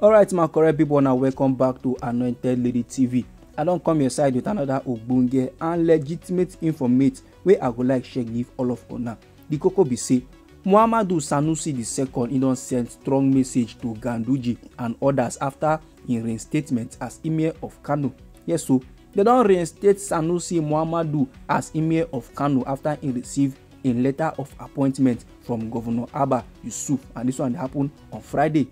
alright my correct people na welcome back to anointed lady tv i don come your side with another ogbonge and legitimate informate wey i go like share give all of una the koko be say muhammadu sanusi ii e don send strong message to ganduje and others after im reinstatement as emir of kano yes so dem don reinstate sanusi muhammadu as emir of kano after im receive im letter of appointment from governor abba yusuf and dis one happen on friday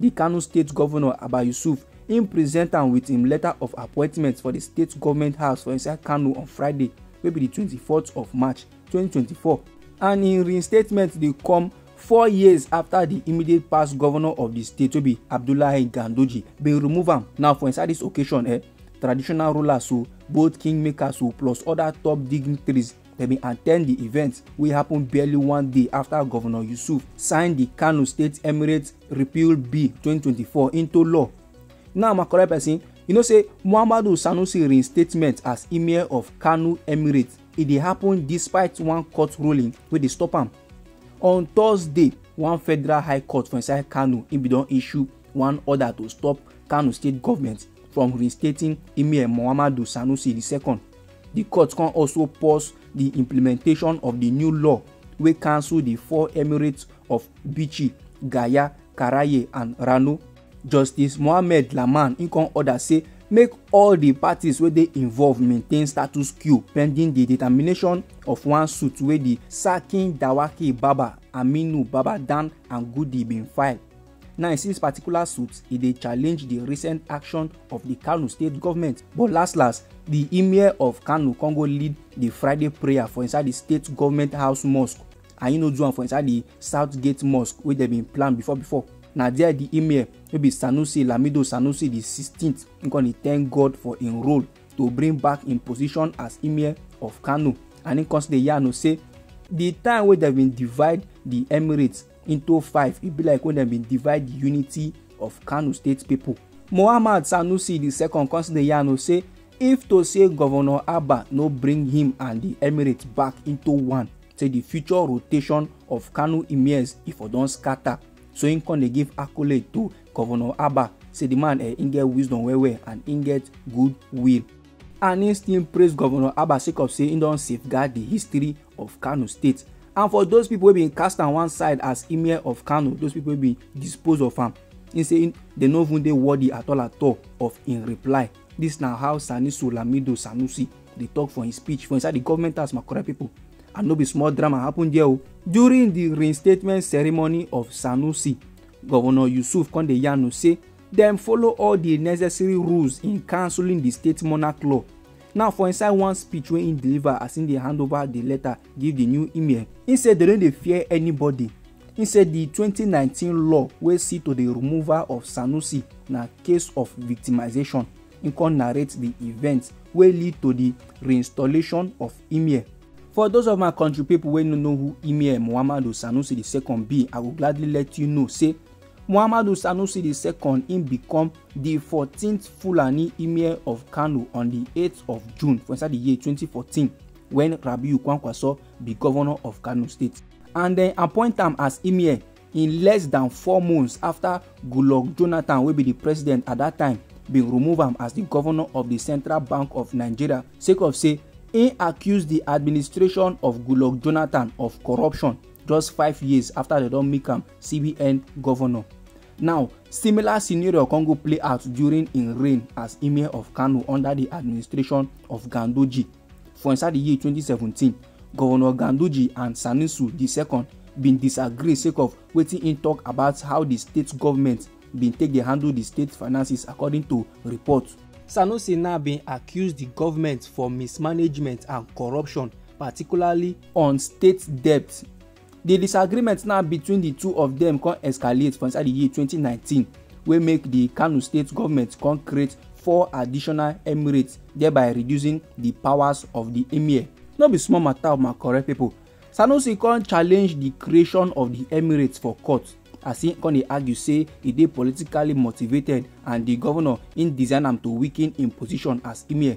di kano state governor abba yusuf im present am wit im letter of appointment for di state goment house for inside kano on friday wey be di 24th of march 2024 and im reinstatement dey come four years afta di immediate past governor of di state wey be abdullahi gandoji bin remove am now for inside dis occasion eh traditional rulers o both kingmakers o plus oda top dignitaries dem bin attend di event wey happen barely one day afta governor yusuf sign di kano state emirates repeal bill 2024 into law now my correct person you know say muhammadu sanusi reinstatement as emir of kano emirate e dey happen despite one court ruling wey dey stop am on thursday one federal high court for inside kano im bin don issue one order to stop kano state government from reinstating emir muhammadu sanusi ii Di court come also pause di implementation of di new law wey cancel di four emirates of Bichi, Gaya, Karaye and Rano. Justice Mohammed Laman im come order say make all di parties wey dey involved maintain status quo pending di determination of one suit wey di Sarkin Dawaki Baba Aminu Baba Dan Angudi bin file. Now, in this particular suit, e dey challenge the recent action of the Kano state government. But last last, the emir of Kano come go lead the Friday prayer for inside the state government house mosque and e no do am for inside the South Gate mosque wey dem bin plan before before. Na there the emir wey be Sanusi Lamido Sanusi the 16th im come dey thank God for im role to bring back im position as emir of Kano and im come still dey yarn o say the time wey dem bin divide the emirates into five e be like when dem bin divide the unity of kano state people. muhammad sanusi di second come still dey yarn o say if to say governor abba no bring him and di emirates back into one say di future rotation of kano emirs e for don scatter so im come dey give accolade to governor abba say di man eh, im get wisdom well well and im get good will and im still praise governor abba sake of say im don safeguard di history of kano state and for those people wey bin cast am one side as emir of kano those people wey bin dispose of am he say dem no even dey worthy at all at all of im reply dis na how sanisu lamido sanusi dey talk for im speech for inside di government house my correct pipo and no be small drama happen there o. Oh. during di reinstatement ceremony of sanusi governor yusuf come dey yarn say dem follow all di necessary rules in cancelling di state monarch law now for inside one speech wey im deliver as im dey hand over di letter give di new emir im say dem no dey fear anybody im say di 2019 law wey see to di removal of sanusi na case of victimisation im come narrate di event wey lead to di reinstallation of emir for those of my country pipo wey no know who emir muhammadu sanusi ii be i go gladly let you know say Muhammadu Sanusi di second im become di fourteenth Fulani Emir of Kano on di eight of June for inside di year twenty fourteen wen Rabiu Kwankwaso be governor of Kano state and dem appoint am as Emir in less dan four months afta Goodluck Jonathan wey be di president at dat time bin remove am as di governor of di Central Bank of Nigeria sake of say im accuse di administration of Goodluck Jonathan of corruption just five years afta dem don make am cbn governor now similar scenario come go play out during im reign as emir of kano under di administration of ganduji for inside di year 2017 governor ganduji and sanusi ii bin disagree sake of wetin im tok about how di state government bin take dey handle di state finances according to report sanusi now bin accuse di government for mismanagement and corruption particularly on state debt Di disagreement now between di two of dem come escalate for inside di year 2019 wey make di Kano state government come create four additional emirates thereby reducing di powers of di emir. No be small matter o my correct people. Sanusi come challenge di creation of di emirates for court as he come dey argue say e dey politically motivated and di governor im design am to weaken im position as emir.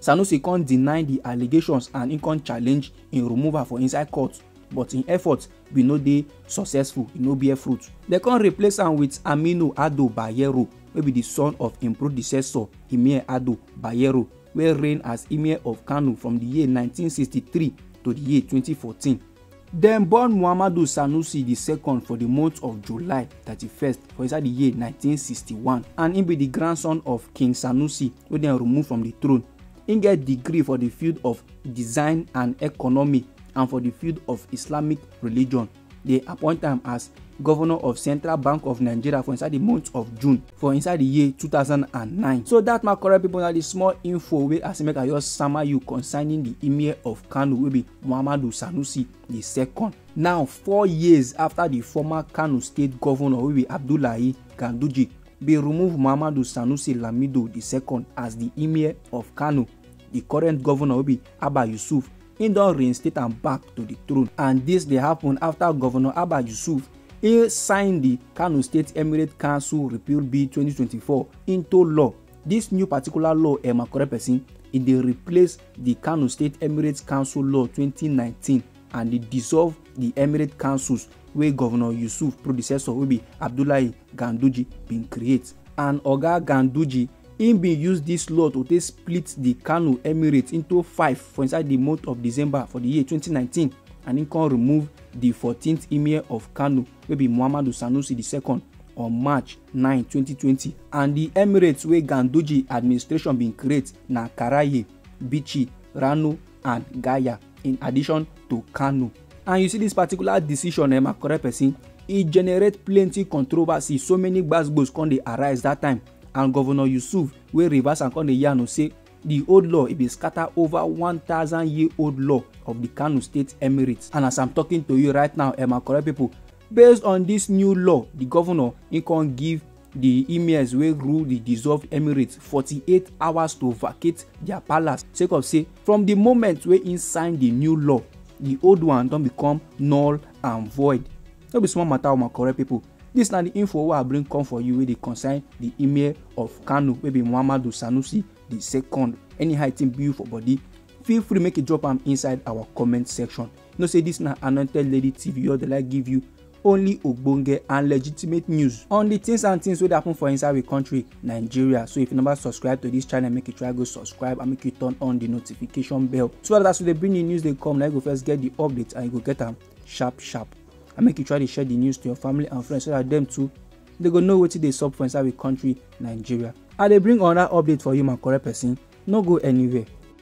Sanusi come deny di allegations and im come challenge im removal for inside court but im efforts bin no dey successful, e no bear fruit. Dem come replace am wit Aminu Ado Bayero wey be di son of im predecessor Emir Ado Bayero wey reign as Emir of Kano from di year nineteen sixty three to di year twenty fourteen. Dem born Muhammadu Sanusi di second for di month of July 31st for inside di year 1961 and im be di grandson of King Sanusi wey dem remove from di throne. Im get degree for di field of design and economy and for di field of Islamic religion. Dem appoint am as governor of Central Bank of Nigeria for inside di month of June for inside di year 2009. So dat my correct pipo na di small info wey I say make I just sama you concerning di Emir of Kano wey be Muhammadu Sanusi the second. Now, four years after the former Kano state governor wey be Abdullahi Ganduje bin remove Muhammadu Sanusi Lamido the second as the emir of Kano, the current governor wey be Abba Yusuf, im don reinstate am back to the throne and dis dey happen after governor Abba Yusuf e sign the Kano State Emirate Council Repeal Bill 2024 into law. Dis new particular law, Emakore person, e dey replace di Kano State Emirate Council Law 2019 and e dissolve di Emirate Councils wey Governor Yusuf predecessor wey be Abdullahi Ganduje bin create. And Oga Ganduje im bin use dis law to take split di Kano Emirate into five for inside di month of December for di year 2019 and im come remove di 14th Emir of Kano wey be muhammadu sanusi ii on march 9 2020 and di emirates wey ganduje administration bin create na karaye bichi rano and gaya in addition to kano and you see dis particular decision eh, my correct person e generate plenty controversy so many gbasgbos come dey arise dat time and govnor yusuf wey reverse am come dey yarn say di old law e bin scatter over 1000 year old law of di kano state emirates and as i'm talking to you right now eh my correct pipo based on dis new law di govnor e con give di emirs wey rule di dissolved emirates 48 hours to vacate dia palace sake of say from di moment wey im sign di new law di old one don become null and void no be small matter o my correct pipo Dis na di info wey I bring come for you wey dey concern di Emir of Kano wey be Muhammadu Sanusi di second. Any height im build for body, feel free make you drop am inside our comment section. You know say dis na Anointed Lady TV wey dey like give you only ogbonge and legitimate news on di things and things wey dey happen for inside we country Nigeria. So if you never subscribe to dis channel, make you try go subscribe and make you turn on di notification bell so dat as we dey bring di news dey come, na you go first get di update and you go get am sharp sharp and make you try to share the news to your family and friends so that them too they go know wetin dey sup for inside we country nigeria i dey bring another update for you my correct person no go anywhere